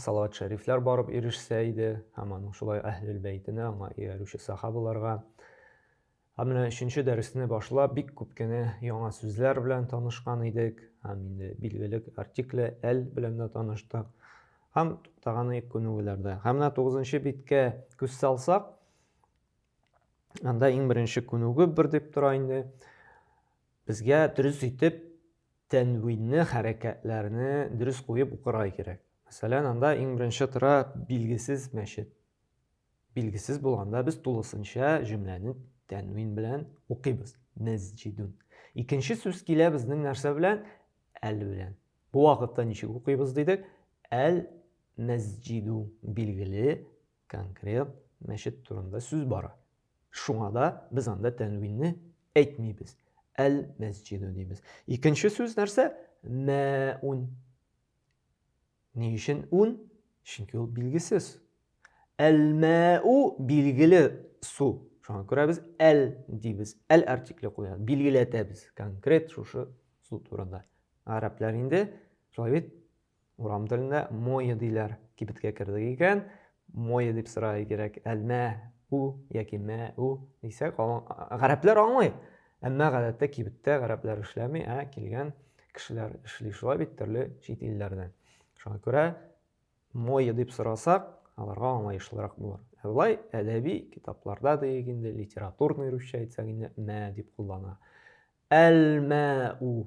салават шәрифләр барып ирешсә иде, һәм аның шулай әһлел бәйтенә, аңа иярүче сахабаларга. Ә менә өченче дәресне башлап, бик күп кенә яңа сүзләр белән танышкан идек, һәм инде билгеле артикле әл белән дә таныштык. Һәм туктаганы күнегүләрдә. Һәм менә 9 биткә күз салсак, анда иң беренче күнегү бер дип тора инде. Безгә дөрес итеп тәнвинне, хәрәкәтләрне дөрес куеп укырга кирәк. Мәсәлән, анда иң беренче тора билгесез мәчет. Билгесез булганда без тулысынча җөмләне тәнвин белән укыйбыз. Мәсҗидун. Икенче сүз килә безнең нәрсә белән? Әл белән. Бу вакытта ничек укыйбыз дидек? Әл мәсҗиду билгеле Конкрет мәчет турында сүз бара. Шуңа да без анда тәнвинне әйтмибез. Әл-мәсҗиду дибез. Икенче сүз нәрсә? Мәун. Ни өчен ун? Чөнки ул билгесез. Әл-мәу билгеле су. Шуңа күрә без әл дибез. Әл артикле куябыз. Билгеләтәбез конкрет шушы су турында. Гарәпләр инде шулай бит Урам телендә мое диләр. Кибеткә кердек икән, мое дип сорарга кирәк. Әлмә у яки мә у дисәк, гарәпләр аңлый. Әмма гадәттә кибеттә гарәпләр эшләми, ә килгән кешеләр эшли шулай бит төрле чит илләрдән. Шуңа күрә мое дип сорасак, аларга аңлаешлырак булыр. Ә болай әдәби китапларда диек инде, литературный русча әйтсәк инде мә дип куллана. Әл-мә у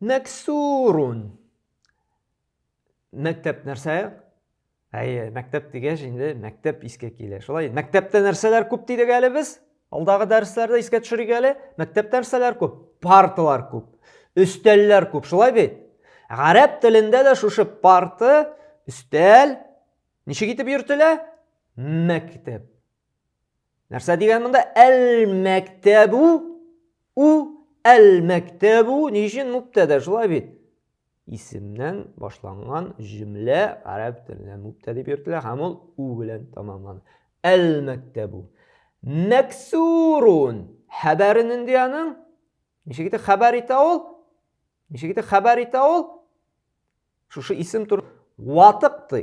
Мәксурун. Мәктәп нәрсә? Әйе, мәктәп дигәч инде мәктәп искә килә. Шулай, мәктәптә нәрсәләр күп дидек әле без? Алдагы дәресләрдә искә төшерик әле. Мәктәптә нәрсәләр күп? Парталар күп, өстәлләр күп. Шулай бит? Гарәп телендә дә шушы парты, өстәл ничек итеп йөртелә? Мәктәп. Нәрсә дигән монда? Әл-мәктәбу у әл-мәктәбу ни өчен мубтәдә шулай бит? Исемнән башланган җөмлә гарәп телендә мубтә дип йөртелә һәм ул у белән тәмамлана. Әл-мәктәбу. Мәксурун. Хәбәре нинди аның? Ничек итеп хәбәр итә ул? Ничек итеп хәбәр итә ул? Шушы исем тур ватык ди.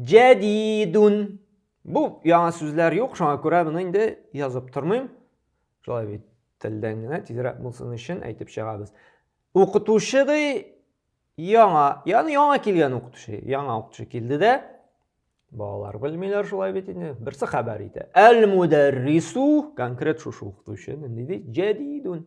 Җәдидун. Бу яңа сүзләр юк, шуңа күрә моны инде язып тормыйм. Шулай бит телдән генә тизрәк булсын өчен әйтеп чыгабыз. Укытучы ди яңа, яны яңа килгән укытучы, яңа укытучы килде дә. Балалар белмиләр шулай бит инде. Берсе хәбәр итә. Әл-мударрису конкрет шушы укытучы, нинди ди? Җәдидун.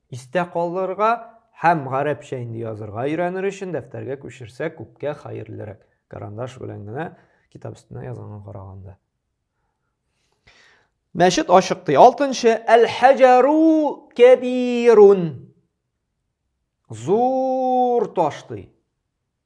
Истә калдырырга һәм гарәпчә инде язырга өйрәнер өчен дәфтәргә күчерсәк күпкә хәерлерәк, карандаш белән генә китап өстенә язганга караганда. Мәчет ачык ди. Алтынчы, әл-хаҗару кәбирун. Зур таш ди.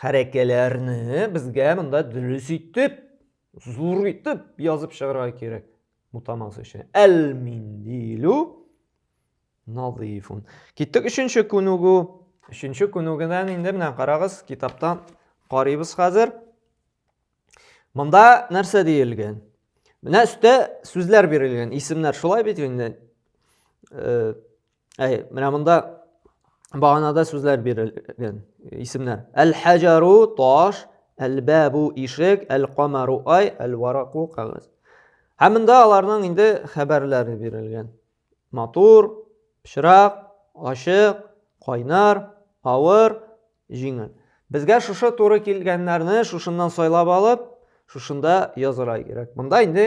Хәрәкәләрне безгә монда дөрес итеп, зур итеп язып чыгарга кирәк. Мутамас өчен. Әл-миндилу назифун. Киттек өченче күнегү. Өченче күнегүдән инде менә карагыз, китаптан карыйбыз хәзер. Монда нәрсә диелгән? Менә өстә сүзләр бирелгән, исемнәр. Шулай бит инде. Э, Әй, менә монда баганада сүзләр бирелгән, исемнәр. Әл-хаҗару таш, әл-бабу ишек, әл-камару ай, әл-вараку кагаз. Һәм монда аларның инде хәбәрләре бирелгән. Матур, пычрак, ачык, кайнар, авыр, җиңел. Безгә шушы туры килгәннәрне шушыннан сайлап алып, шушында язырга кирәк. Монда инде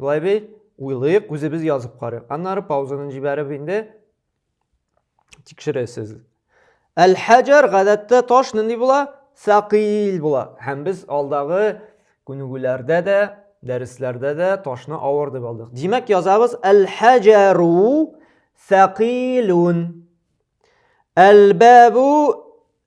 Болай бит, уйлыйк, үзебез язып карыйк. Аннары паузаны җибәреп инде тикшерәсез. Әл-хаҗар гадәттә таш нинди була? Сакил була. Һәм без алдагы күнегүләрдә дә, дәресләрдә дә ташны авыр дип алдык. Димәк, язабыз әл-хаҗару сакилун. Әл-бабу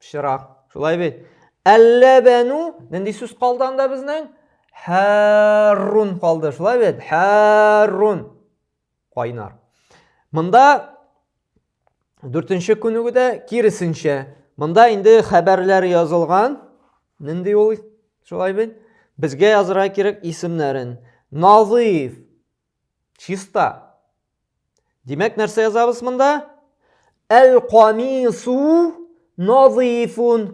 Пычрак. Шулай бит. Әлләбәну нинди сүз калды анда безнең? Хәррун калды. Шулай бит. Хәррун. Кайнар. Монда дүртенче күнегүдә киресенчә. Монда инде хәбәрләр язылган. Нинди ул? Шулай бит. Безгә язырга кирәк исемнәрен. Назыйф. Чиста. Димәк, нәрсә язабыз монда? Әл-камису назифун.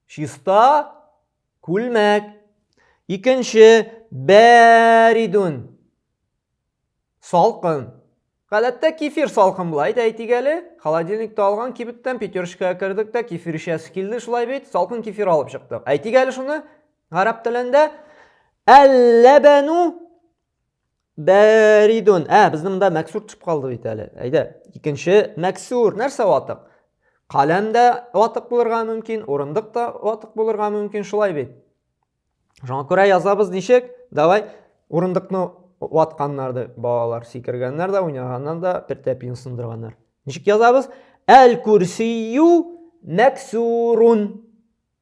Чиста күлмәк. Икенче бәридун. Салкын. Гадәттә кефир салкын була, әйт әйтик әле. Холодильникта алган кибеттән пятерочкага кердек тә, кефир эчәсе килде, шулай бит, салкын кефир алып чыктык. Әйтик әле шуны, гарәп телендә. Әлләбәну Бәридун. Ә, безнең монда мәксур төшеп калды бит әле. Әйдә, икенче мәксур. Нәрсә ватык? Каләм дә ватык булырга мөмкин, урындык та ватык булырга мөмкин, шулай бит. Шуңа күрә язабыз ничек? Давай урындыкны ватканнарды балалар сикергәннәр дә, уйнаганнан да бер тәпиен сындырганнар. Ничек язабыз? Әл-курсию мәксурун.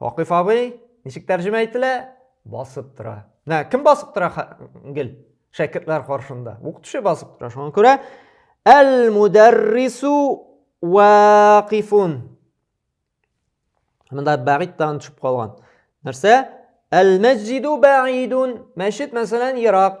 Вакыйф абый, ничек тәрҗемә ителә? Басып тора. Нә, кем басып тора, гел? Шәкертләр каршында. Укытучы басып тора. Шуңа күрә әл-мударрису вакифун. Монда бәгыйд тагын төшеп калган. Нәрсә? Әл-мәсҗиду бәгидун. Мәчет мәсәлән ерак.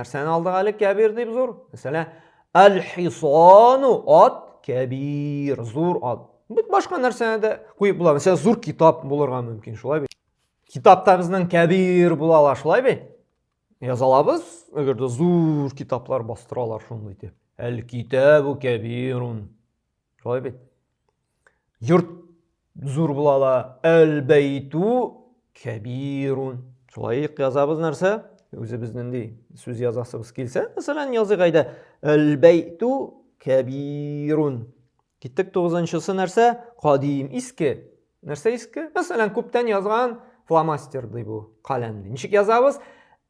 Нәрсәне алдык әле кәбир дип зур? Мәсәлән, әл-хисану ат кәбир, зур ат. Бит башка нәрсәне дә куеп була. Мәсәлән, зур китап булырга мөмкин, шулай бит. Китапта безнең кәбир була ала, шулай бит? Яза алабыз, әгәр дә зур китаплар бастыралар шундый итеп. Әл-китабу кәбирун. Шулай бит. Йорт зур була ала. Әл-бәйту кәбирун. Шулай язабыз нәрсә? Үзебез нинди сүз язасыбыз килсә, мәсәлән, языйк әйдә. Әл-бәйту кәбирун. Киттек тугызынчысы нәрсә? Кадим, иске. Нәрсә иске? Мәсәлән, күптән язган фломастер ди бу, каләм ди. Ничек язабыз?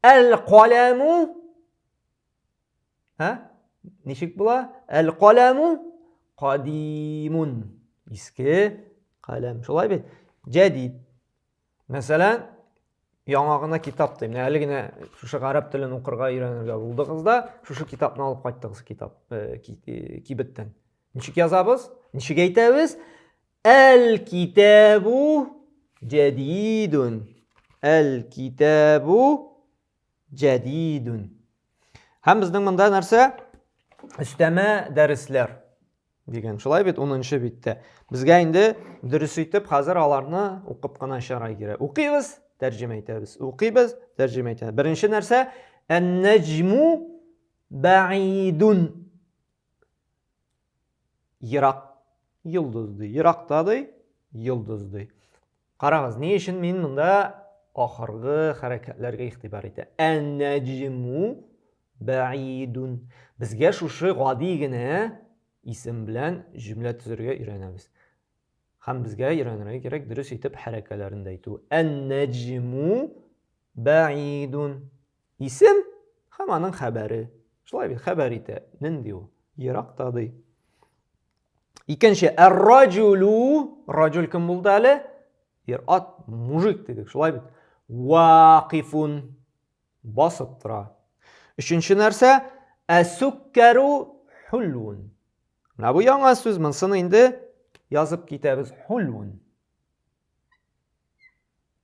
Әл-каләму Һә? Ничек була? Әл-каламу кадимун. Иске каләм. Шулай бит? Җәдид. Мәсәлән, яңа гына китап дим. Әле генә шушы гарәп телен укырга өйрәнергә булдыгыз да, шушы китапны алып кайттыгыз китап э, э, кибеттән. Ничек язабыз? Ничек әйтәбез? Әл-китабу җәдидун. Әл-китабу Җәдидүн. Һәм безнең монда нәрсә? Өстәмә дәресләр дигән. Шулай бит 10-нчы биттә. Безгә инде дөрес итеп хәзер аларны укып кына чыгарга кирәк. Укыйбыз, тәрҗемә итәбез. Укыйбыз, тәрҗемә итәбез. Беренче нәрсә, ән-нәҗму бәидун. Ерак йолдыз ди. Еракта ди, йолдыз ди. Карагыз, ни өчен мин монда ахыргы хәрәкәтләргә игътибар итә. Ән-нәҗму бәидун. Безгә шушы гади генә исем белән җөмлә төзергә өйрәнәбез. Һәм безгә өйрәнергә кирәк дөрес итеп хәрәкәләрен дә әйтү. Ән-нәҗму бәидун. Исем һәм аның хәбәре. Шулай бит, хәбәр итә. Нинди ул? Еракта ди. Икенче, әр-раҗулу, раҗул кем булды әле? Ер ат, мужик дидек, шулай бит. Вакифун, басып тора. Өченче нәрсә, әсуккәру хулун. Менә бу яңа сүз, монсын инде язып китәбез. Хулун.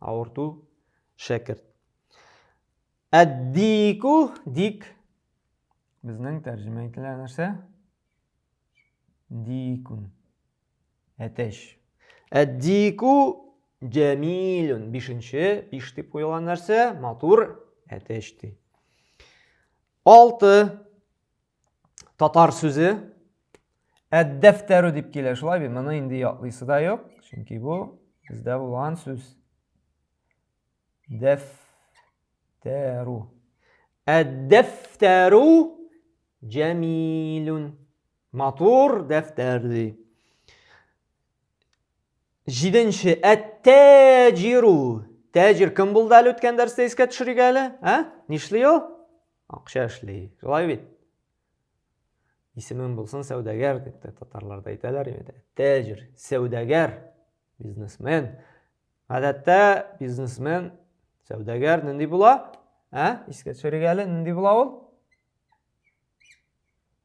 Авырту, шәкерт. Әддику, дик. Безнең тәрҗемә ителә нәрсә? Дикун. Әтәч. Әддику җәмилун. Бишенче, биш дип куелган нәрсә? Матур, әтәч ди. Алты. татар сүзе әддәфтәрү дип килә шулай бит моны инде яклыйсы да юк чөнки бу бездә булган сүз дәфтәрү әддәфтәрү җәмилүн матур дәфтәр ди җиденче әттәҗиру тәҗир кем булды әле үткән дәрестә искә төшерик әле ә нишли ул Акча эшли. Шулай бит? Исемең булсын сәүдәгәр дип тә татарларда әйтәләр инде. Тәҗир, сәүдәгәр, бизнесмен. Гадәттә бизнесмен, сәүдәгәр нинди була? Ә? Искә төшерик әле, нинди була ул?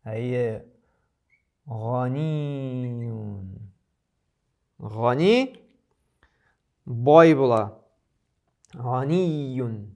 Әйе. Ганиюн. Гани бай була. Ганиюн.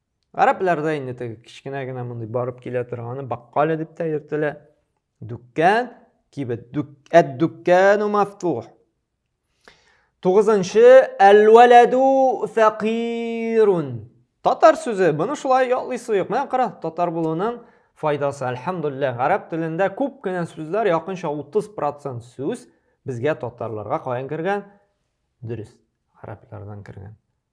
Гарәпләрдә инде теге кечкенә генә мондый барып килә торганы баккале дип тә йөртелә. Дүккән, кибет, дүк, әт дүккән мафтух. Тугызынчы, әл-вәләду фәкирун. Татар сүзе, моны шулай ятлыйсы юк. Менә кара, татар булуның файдасы, әлхәмдулилла. Гарәп телендә күп кенә сүзләр, якынча 30% сүз безгә татарларга каян кергән? Дөрес, гарәпләрдән кергән.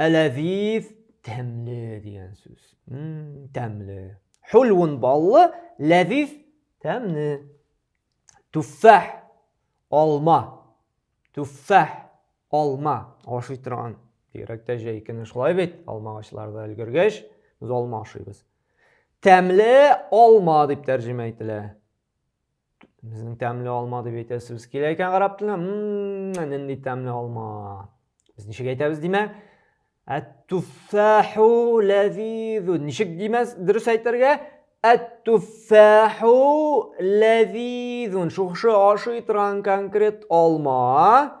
Әләзиз тәмле дигән сүз. Тәмле. Хулвун баллы, ләзиз тәмле. Туффах алма. Туффах алма. Ашый торган. Бигрәктә җәй көне шулай бит, алма агачларда өлгергәч, без алма ашыйбыз. Тәмле алма дип тәрҗемә ителә. Безнең тәмле алма дип әйтәсебез килә икән гарәп теленә. Мм, нинди тәмле алма. Без ничек әйтәбез димә? Әт-туффаху ләзизу. Ничек димәс дөрес әйтергә? Әт-туффаху ләзизун. Шушы ашый торган конкрет алма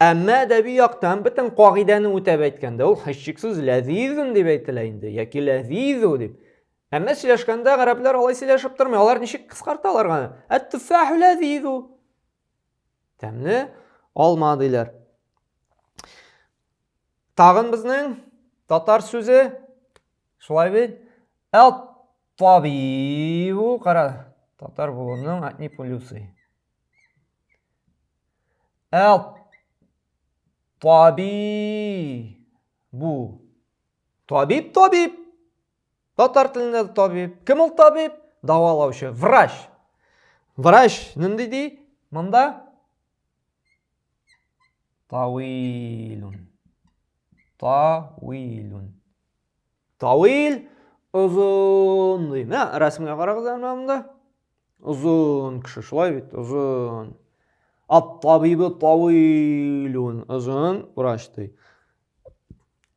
Әмма әдәби яктан бөтен кагыйдәне үтәп әйткәндә, ул һичшиксез ләзизун дип әйтелә инде, яки ләзизу дип. Әмма сөйләшкәндә гарәпләр алай сөйләшеп тормый, алар ничек кыскарталар гана? Әт-туффаху ләзизу. Тәмле алма диләр. Тагын безнең татар сүзе шулай бит. Әт-табибу, кара, татар булуның әтни плюсы. Табиб. Бу. Табиб, табиб. Татар телендә табиб. Кем ул табиб? Давалаучы. Врач. Врач. Нинди ди? Монда? Тауилун. Тауилун. Тавил, озын дим. Ә, рәсемгә карагыз әле монда. Озын кеше, шулай бит, озын. Ат-табибы тавилун, озын врач ди.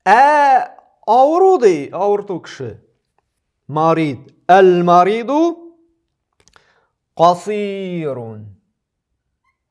Ә авыру ди, авырту кеше. Марид, әл-мариду касирун.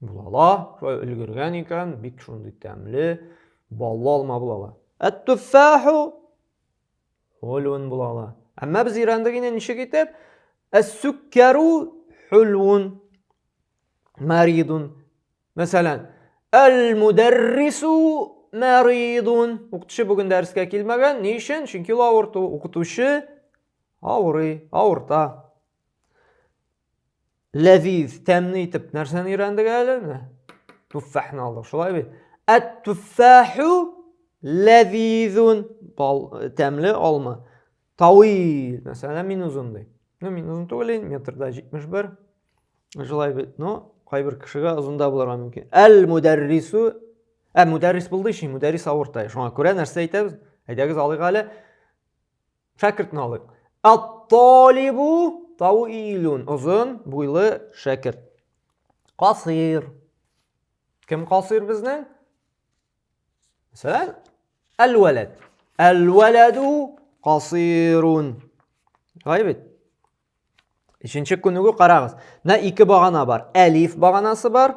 Булала, шулай өлгергән икән, бик шундый тәмле, баллы алма булала. Әт-туффаху хулун булала. Әмма без өйрәндек инде ничек итеп? Әс-сүккәру хулун маридун. Мәсәлән, әл-мударрису маридун. Укытучы бүген дәрескә килмәгән. Ни өчен? Чөнки ул авырту. Укытучы авырый, авырта. Ләзиз, тәмле итеп нәрсәне өйрәндек әле? Туффахны алдык, шулай бит? Әт-туффаху ләзизун. Бал, тәмле алма. Тауил, мәсәлән, мин озын ди. Ну, мин озын түгел инде, метрда 71. Шулай бит, но кайбер кешегә озын да булырга мөмкин. Әл-мударрису Ә мөдәррис булды өчен мөдәррис авыртай. Шуңа күрә нәрсә әйтәбез? Әйдәгез алыйк әле. Шәкертне алыйк. Ат-талибу тауилун. Озын, буйлы шәкерт. Касир. Кем касир безнең? Мәсәлән, әл-вәләд. Әл-вәләду касирун. Шулай бит? Өченче күнегү карагыз. Менә ике багана бар. Әлиф баганасы бар.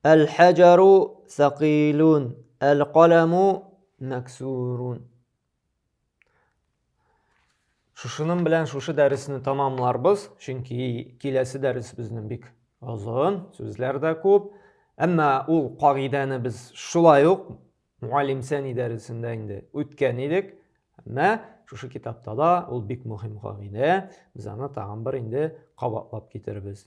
Әл-хаҗару сәкыйлун, әл-каламу мәксурун. Шушының белән шушы дәресне тамамларбыз, чөнки киләсе дәрес безнең бик озын, сүзләр дә күп. Әмма ул кагыйдәне без шулай ук муаллим сәни дәресендә инде үткән идек. Әмма шушы китапта да ул бик мөһим кагыйдә. Без аны тагын бер инде кабатлап китербез.